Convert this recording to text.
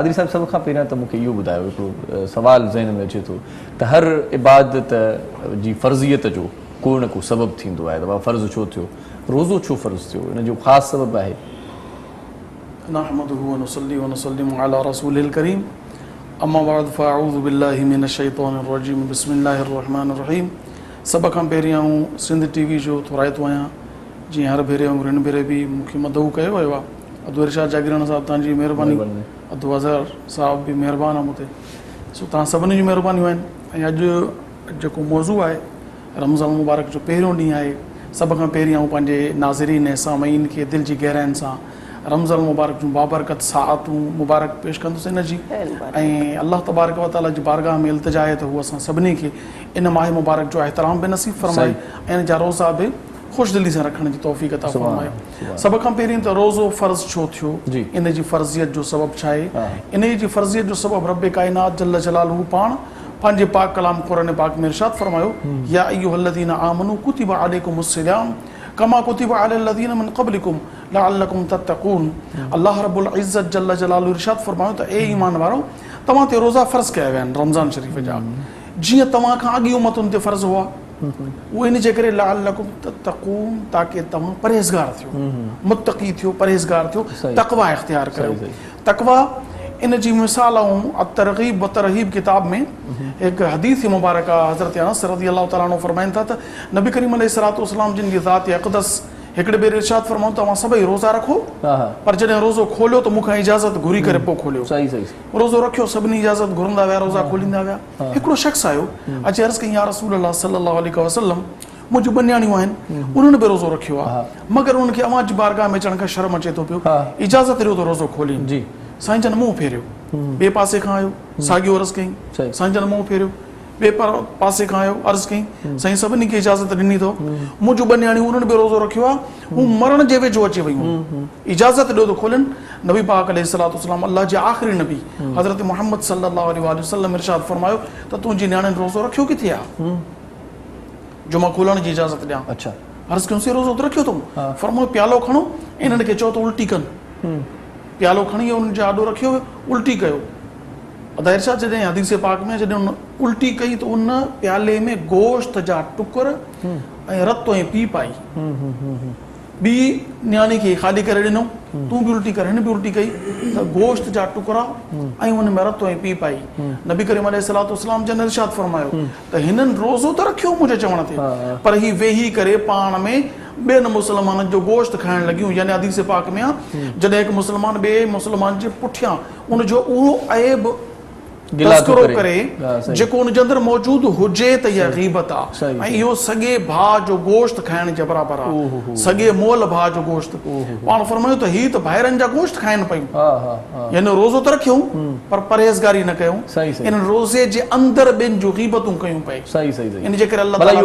پادري صاحب سڀ کان پهريان ته مون کي اهو ٻڌايو هڪڙو سوال ذهن ۾ اچي ٿو ته هر عبادت جي فرضيت جو ڪو نه ڪو سبب ٿيندو آهي ته بابا فرض ڇو ٿيو روزو ڇو فرض ٿيو ان جو خاص سبب آهي. نحمده ونصلي ونسلم علي رسوله الڪريم اما بعد فاعوذ بالله من الشيطان الرجيم بسم الله الرحمن الرحيم سڀ کان پهريان آئون سنڌ ٽي وي جو ٿورائتو آهيان جيئن هر ڀيري وانگر هن ڀيري به مون کي مدعو ڪيو ويو آهي. ادو ارشاد جاگيراڻا صاحب توهان جي مهرباني ادو اظهر صاحب به مهربان آهي مون تي سو توهان سڀني جون مهربانيون آهن ۽ اڄ جيڪو موضوع آهي رمضان المبارڪ جو پهريون ڏينهن آهي سڀ کان پهرين آئون پنهنجي ناظرين ۽ سامعين کي دل جي گهراين سان رمضان المبارڪ جون بابرڪت ساعتون مبارڪ پيش ڪندس ان جي ۽ الله تبارڪ وتعاليٰ جي بارگاهه ۾ التجا آهي ته هو اسان سڀني کي ان ماهه مبارڪ جو احترام به نصيب فرمائي ۽ ان جا روزا به خوش دلي سان رکڻ جي توفيق عطا فرمائي سڀ کان پهرين ته روزو فرض ڇو ٿيو ان جي فرضيت جو سبب ڇا آهي انهي جي فرضيت جو سبب رب ڪائنات جل جلاله پاڻ پنهنجي پاڪ ڪلام قرآن پاڪ ۾ ارشاد فرمايو يا ايها الذين آمنوا ڪتب عليڪم الصيام ڪما ڪتب علي الذين من قبلكم لعلكم تتقون الله رب العزت جل جلاله ارشاد فرمايو ته اي ايمان وارؤ توهان تي روزا فرض ڪيا ويا آهن رمضان شريف جا جيئن توهان کان اڳين امتن تي فرض هئا اهو ان جي ڪري لعلڪم تتقون تاڪه توهان پرهيزگار ٿيو متقي ٿيو پرهيزگار ٿيو تقويٰ اختيار ڪريو تقويٰ ان جي مثال آئون الترغيب والترهيب ڪتاب ۾ هڪ حديث مبارڪه حضرت انس رضي الله تعالٰي عنه فرمائن ٿا ته نبي ڪريم عليه الصلاة والسلام جن جي ذات اقدس هڪڙي ڀيري ارشاد فرمائن ته اوهان سڀئي روزا رکو پر جڏهن روزو کوليو ته مون کان اجازت گهري ڪري پوء کوليو روزو رکيو سڀني اجازت گهرندا ويا روزا کوليندا ويا هڪڙو شخص آيو اچي عرض ڪيائين يا رسول الله صلي الله عليه وسلم مون جون ٻه نياڻيون آهن انهن به روزو رکيو آهي مگر انهن کي اوهان جي بارگاهه ۾ اچڻ کان شرم اچي ٿو پيو اجازت ڏيو ته روزو کولين سائين جن منهن ڦيريو ٻئي پاسي کان آيو ساڳيو عرض ڪيائين سائين جن منهن ڦيريو ٻئي پاسي کان آيو عرض ڪيائين سائين سڀني کي اجازت ڏني اٿو مون جون ٻه نياڻيون انهن به روزو رکيو آهي هو مرڻ جي ويجهو اچي ويون هيون. اجازت ڏيو ته کولين. نبي پاڪ عليه الصلوة والسلام الله جي آخري نبي حضرت محمد صلّي الله عليه واٰله وسلّم ارشاد فرمايو ته تنهنجي نياڻين روزو رکيو ڪٿي آ؟ جو مان کولڻ جي اجازت ڏيان. عرض ڪيون سين روزو ته رکيو اٿئون. فرمايو پيالو کڻو ۽ انهن کي چئو ته الٽي ڪن. پيالو کڻي انهن جي آڏو رکيو ويو. الٽي ڪيو. ادا ارشاد جڏهن حديث پاڪ ۾ جڏهن ان الٽي ڪئي ته ان پيالي ۾ گوشت جا ٽڪر، ۽ رت تنهنجي پيء پائي. ٻي نياڻي کي خالي ڪري ڏنو. تون به الٽي ڪر، هن به الٽي ڪئي ته گوشت جا ٽڪرا ۽ ان ۾ رت تنهنجي پيء پائي. نبي ڪريم عليه الصلوة والسلام جن ارشاد فرمايو ته هنن روزو ته رکيو منهنجي چوڻ تي پر هي ويهي ڪري پاڻ ۾ ٻين مسلمانن جو گوشت کائڻ لڳيون يعني حديث پاڪ ۾ آهي جڏهن هڪ مسلمان ٻئي مسلمان جي پٺيان ان جو اهو عيب تذڪرو ڪري جيڪو ان جي اندر موجود هجي ته اها غيبت آ ۽ اهو سڳي ڀاء جو گوشت کائڻ جي برابر آ سڳي مئل ڀاء جو گوشت پاڻ فرمايو ته هي ته ڀائرن جا گوشت کائن پيون يعني روزو ته رکيون پر پرهيزگاري نه ڪيون ان روزي جي اندر ٻين جون غيبتون ڪيون پئي ان جي ڪري الله تعالي